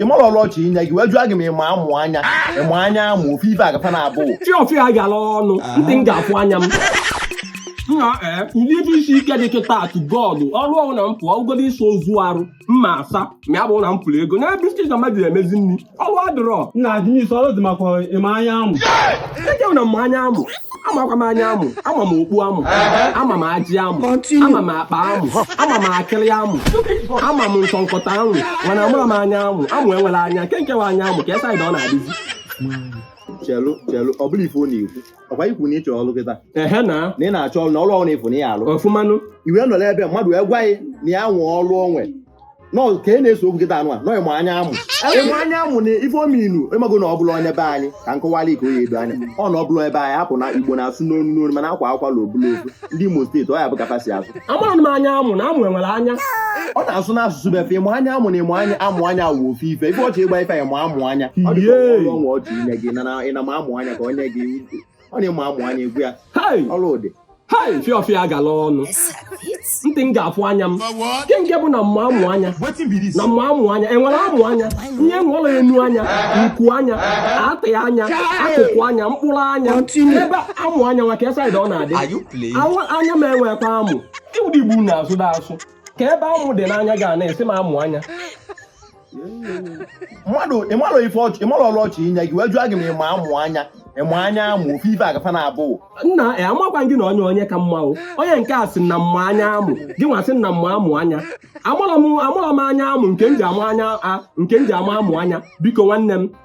ị mara ọrụ ọ chọ inye gị wee jụọ gị ma ị ma amụ anya ị ma anya amụ ofu ife ka fa na-abụ fịa fịa gara ọnụ ntị m ga-afụ anya m nna ee ụdị ife isi ike dị kịta atụ gọọlụ ọrụ ọ bụna m fụ ọ bụgodu ịsa ozu arụ m ma asa ma ya bụrụ na m fụrụ ego na ebe isi jama ji emezi nri ọrụ adịrọ nna adịm isi ọrụ dị makwa ị ma anya amụ ejewu na m ma anya amụ amakwa m anya amụ ama m okpu amụ ama m ajị amụ ama m akpa amụ ama m akịrị amụ ama m nchịkọta amụ mana amarọ m anya amụ amụ enwere anya kee nke wụ anya amụ kee side ọ na-adịzi chelu chelu ọ bụrọ ife ọ na-ekwu ọ kwa i kwu na ị chọrọ ọrụ kịta ehe na na ị na-achọ ọrụ na ọrụ ọ bụna ị fụ na ị ya-alụ ọfụmanụ iwe nọ n'ebe mmadụ wee gwa ya na ya nwee ọrụ onwe nọ ka ị na-ese okwu kịta anụ a nọ ịmụ anya amụ ị ma anya amụ na ife ọ mean ị mago na ọ bụrọ onye be anyị ka m kọwara ike onye edo anya ọ na ọ bụrọ ebe anyị hapụ na igbo na-asụ n'onu n'onu mana akwaa ụkwala ọ bụlụ ofu ndị imo steeti ọ ya bụ ka fa si asụ amaghị m anya amụ na amụ enwere anya ọ na-asụ n'asụsụ be fa ịma anya amụ na ịma anya amụ anya wụ ofu ife ife ọ chọ ịgwa ife ị ma amụ anya ọ dị ka ọnwa ọ chọ inye gị na ị na-amụ anya ka o nye gị ọ na-eme amụ anya egwu ya ọrụ ụdị hai fịa fịa agala ọnụ ntị m ga-afụ anya m kee nke bụ na m ma amụ anya na m ma amụ anya enwere amụ anya ihe nwere enu anya nku anya atị anya akụkụ anya mkpụrụ anya kee amụ anya nwa kee side ọ na-adị anya m enwekwa amụ ụdị igbo na-asụ da asụ kee ebe amụ dị n'anya ị na-asị m amụ anya mmadụ ịmalụ ife ọ chọ ịmalụ ọrụ ọ chọ inye gị wee jụọ gị ma ị ma amụ anya ị ma anya amụ ofu ife ka fa na-abụ nna ya amakwa m gị na onye onye ka mma o onye nke a sị na m ma anya amụ gị nwa sị na m ma amụ anya amarọ m amarọ m anya amụ nke m ji ama anya a nke m ji ama amụ anya biko nwanne m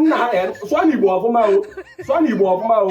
nna ha eh, sụọ n'igbo ọfụma o sụọ n'igbo ọfụma o